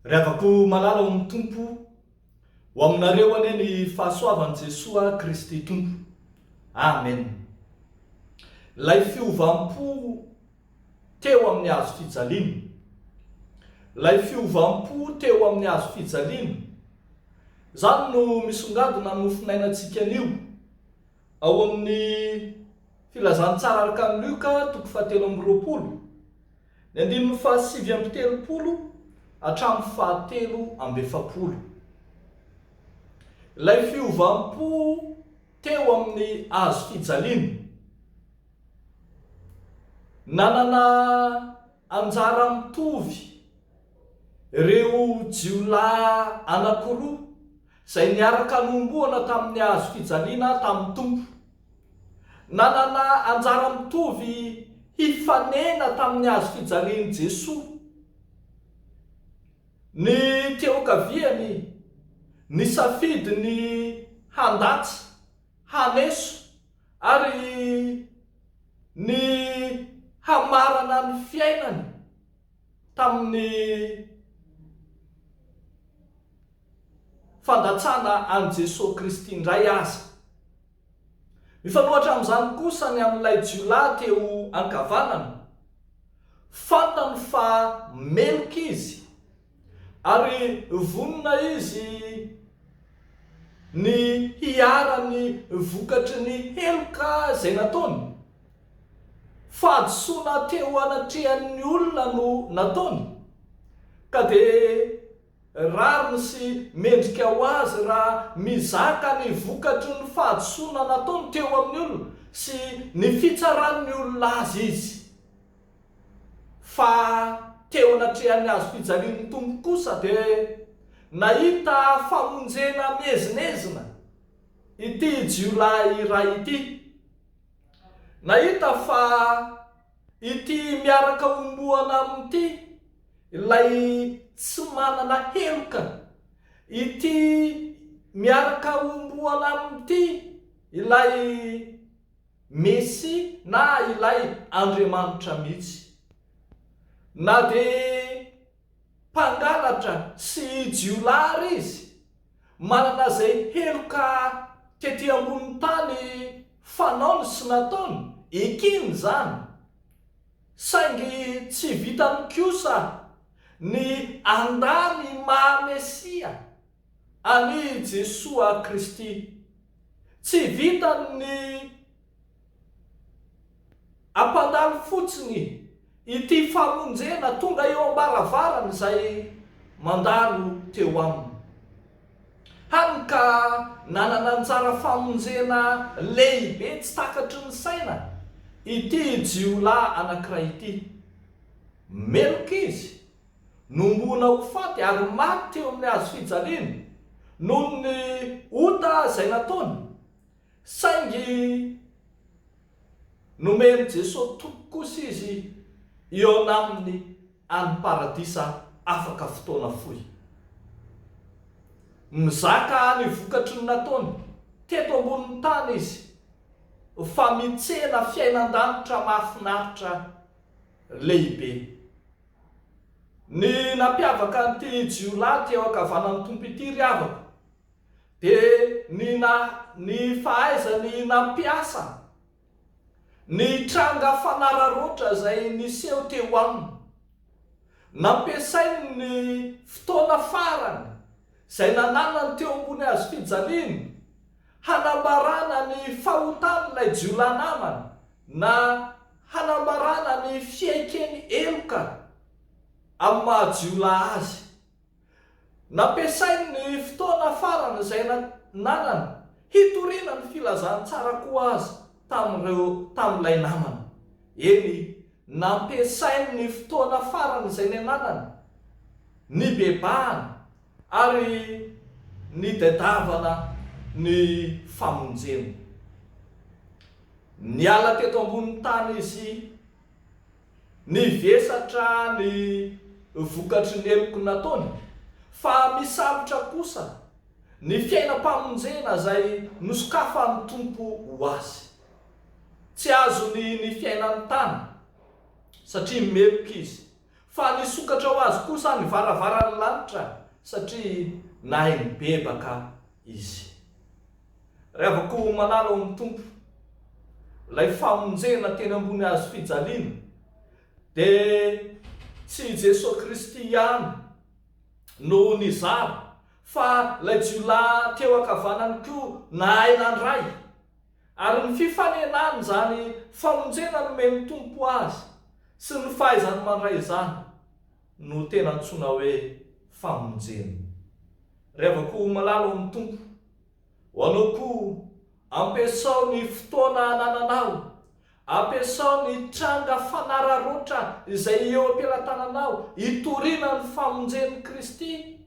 Ry havako malala ao amin'ny Tompo, ho aminareo anie ny fahasoavan'i Jesoa Kristy Tompo. Amen. Ilay fiovam-po. teo amin'ny hazo fijaliana. Ilay fiovam-po teo amin'ny hazo fijaliana, izany no misongadina ny mofonainantsika anio. Ao amin'ny Filazantsara araka an'i Lioka, toko fahatelo amby roapolo, ny andininy fahasivy amby telopolo hatramin'ny fahatelo amby efapolo. Ilay fiovam-po teo amin'ny hazo fijaliana. Nanana anjara mitovy ireo jiolahy anankiroa izay niaraka nohomboana tamin'ny hazo fijaliana tamin'ny Tompo. Nanana anjara mitovy hifanena tamin'ny hazo fijalian'i Jesoa ny teokaviany nisafidy ny handatsa, haneso, Ary ny hamarana ny fiainany tamin'ny fandatsana an'i Jesoa Kristy indray aza. Mifanohatra amin'izany kosa ny amin'ilay jiolahy teo ankavanana. Fantany fa meloka izy. ary vonona izy ny hiharan'ny vokatry ny heloka izay nataony. Fahadisoana teo anatrehan'ny olona no nataony, ka dia rariny sy mendrika ho azy raha mizaka ny vokatry ny fahadisoana nataony teo amin'ny olona sy ny fitsaran'ny olona azy izy. Fa teo anatrehan'ny hazo fijalian'ny Tompo kosa dia nahita famonjena miezinezina ity jiolahy iray ity. Nahita fa ity miaraka homboana amin'ity ilay tsy manana heloka, ity miaraka homboana amin'ity ilay. Mesia na ilay Andriamanitra mihitsy. Na dia mpangalatra sy jiolahy ary izy, manana izay heloka tety ambonin'ny tany fanaony sy nataony, ekeny izany. Saingy tsy vitany kosa ny handà ny maha-Mesia. Ani Jesoa Kristy. Tsy vitan ny ampandalo fotsiny ity famonjena tonga eo ambaravarany izay mandalo teo aminy. Hany ka nanana anjara famonjena lehibe tsy takatry ny saina ity jiolahy anankiray ity. Meloka izy. Nombohina ho faty ary maty teo amin'ny hazo fijaliana noho ny ota izay nataony. Saingy nomen'i Jesosy toky kosa izy hihaona Aminy any Paradisa afaka fotoana fohy. Mizaka ny vokatry ny nataony teto ambonin'ny tany izy fa mitsena fiainan-danitra mahafinaritra lehibe. Ny nampiavaka an'ity jiolahy eo ankavanan'ny Tompo ity, ry havako, dia ny na, ny fahaizany nampiasa ny tranga fanararaotra izay niseho teo aminy. Nampiasainy ny fotoana farany izay nananany teo ambony hazo fijaliana hanambarana ny fahotan'ilay jiolahy namany, na. hanambarana ny fiaiken'ny heloka amin'ny maha-jiolahy azy. Nampiasainy ny fotoana farany izay nanana hitoriana ny filazantsara koa aza tamin'ireo tamin'ilay namany. Eny, nampiasainy ny fotoana farany izay niananany nibebahana. Ary nitadiavana ny famonjeny. Niala teto ambonin'ny tany izy, nivesatra ny vokatry ny heloky nataony, fa misalotra kosa ny fiainam-pamonjena izay nosokafan'ny Tompo ho azy. Tsy azony ny fiainan'ny tany, satria meloka izy. fa nisokatra ho azy kosa ny varavaran'ny lanitra satria nahay nibebaka izy. Ry havako malala ao amin'ny Tompo, ilay famonjena teny ambony hazo fijaliana dia tsy i Jesoa Kristy ihany no nizara fa ilay jiolahy teo ankavanany koa nahay nandray. Ary ny fifanenan' izany famonjena nomen'ny Tompo azy sy ny fahaizany mandray izany no tena antsoina hoe famonjena. Revako ho malala ao amin'ny Tompo. Ho anao koa, ampiasao ny fotoana anananao Ampiasao ny tranga fanararaotra izay eo am-pelatananao hitoriana ny famonjen'i Kristy,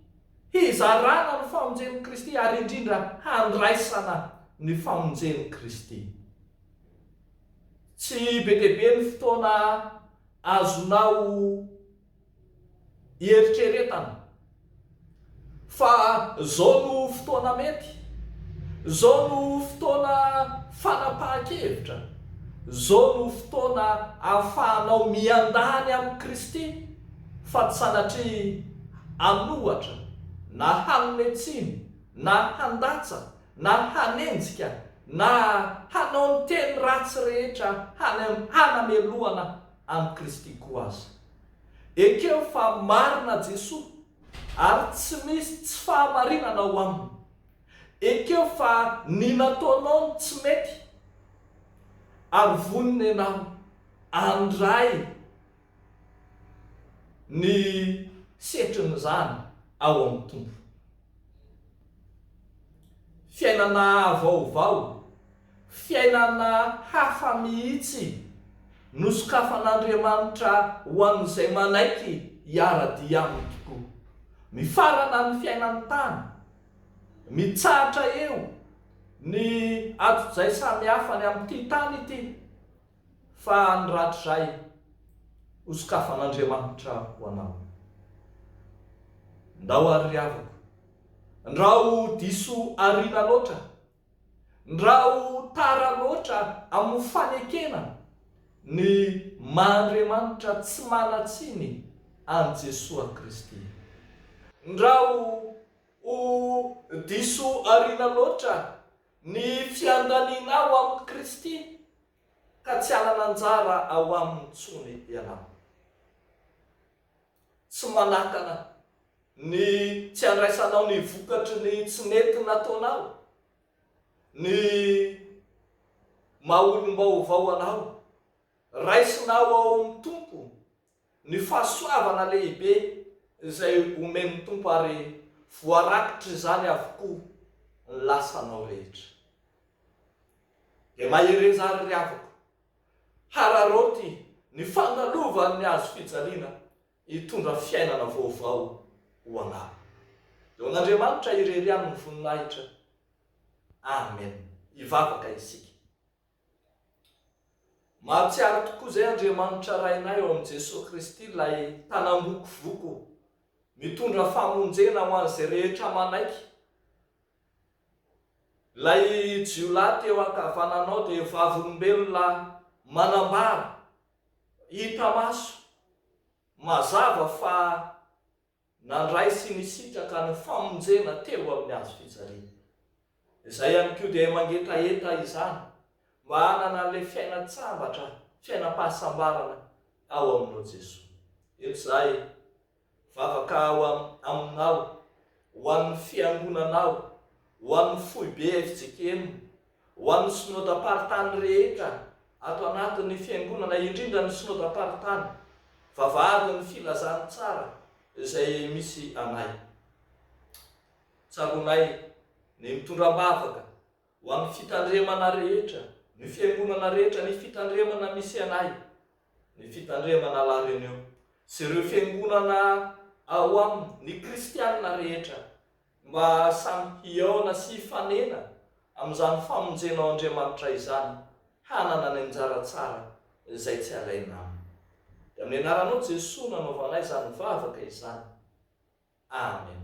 hizarana ny famonjen'i Kristy ary indrindra handraisana ny famonjen'i Kristy. Tsy be dia be ny fotoana azonao. Ieritreretana fa izao no fotoana mety, izao no fotoana fanapahan-kevitra, izao no fotoana ahafahanao miandahy ny amin'i Kristy fa tsy sanatria hanohatra na hanome tsiny na handatsa na hanenjika na hanao ny teny ratsy rehetra hanamelohana amin'i Kristy koa aza. Ekeo fa marina Jesoa ary tsy misy tsy fahamarinana ao Aminy. Ekeo fa ny nataonao no tsy mety ary vonona ianao handray ny setrin'izany ao amin'ny Tompo. Fiainana vaovao. Fiainana hafa mihitsy no sokafan'Andriamanitra ho an'izay manaiky hiara-dia Aminy tokoa. Mifarana amin'ny fiainan'ny tany, mitsahatra eo ny adojay samihafa any amin'ity tany ity, fa ny rahatrizay ho sokafan'Andriamanitra ho anao. Ndao ary ry havako, ndao diso ariana loatra. Raha ho tara loatra amin'ny fanekena ny maha Andriamanitra tsy manan-tsiny an'i Jesoa Kristy. Raha ho ho diso aoriana loatra ny fiandanianao amin'i Kristy ka tsy hanana anjara ao Aminy intsony ianao. tsy manakana ny tsy handraisanao ny vokatry ny tsy nety nataonao, ny maha olom-baovao anao. Raisinao ao amin'ny Tompo ny fahasoavana lehibe izay omen'ny Tompo ary voarakotr'izany avokoa ny lasanao rehetra. Dia mahereza àry ry havako, Hararaoty ny fandalovany ny hazo fijaliana hitondra fiainana vaovao ho anao. Eo an'Andriamanitra irery ihany ny voninahitra. Amen. Hivavaka isika. Mahatsiaro tokoa izay Andriamanitra Rainay ao amin'i Jesoa Kristy ilay Tanam-bokovoko mitondra famonjena ho an'izay rehetra manaiky Ilay jiolahy teo ankavananao dia vavolombelona manambara, hita maso, mazava fa nandray sy nisitraka ny famonjena teo amin'ny hazo fijaliana. Izay ihany koa dia mangetaheta izany mba hanana an'ilay fiainan-tsambatra, fiainam-pahasambarana ao aminao Jesoa. Eto izahay. Vavaka aho aminao, ho an'ny fiangonanao, ho an'ny foibe fjkm, ho an'ny synodam-paritany rehetra ato anatin'ny fiangonana, indrindra ny synodam-paritany, vavahady ny filazantsara izay misy anay. Tsaroanay ny mitondra am-bavaka ho an'ny fitandremana rehetra, ny fiangonana rehetra, ny fitandremana misy anay. Ny fitandremana La Réunion sy ireo fiangonana ao aminy, ny kristiana rehetra, mba samy hihaona sy hifanena amin'izany famonjena ao Andriamanitra izany, hanana ny anjara tsara izay tsy alaina aminy. Dia amin'ny anaranao Jesoa no anaovanay izany vavaka izany. Amen.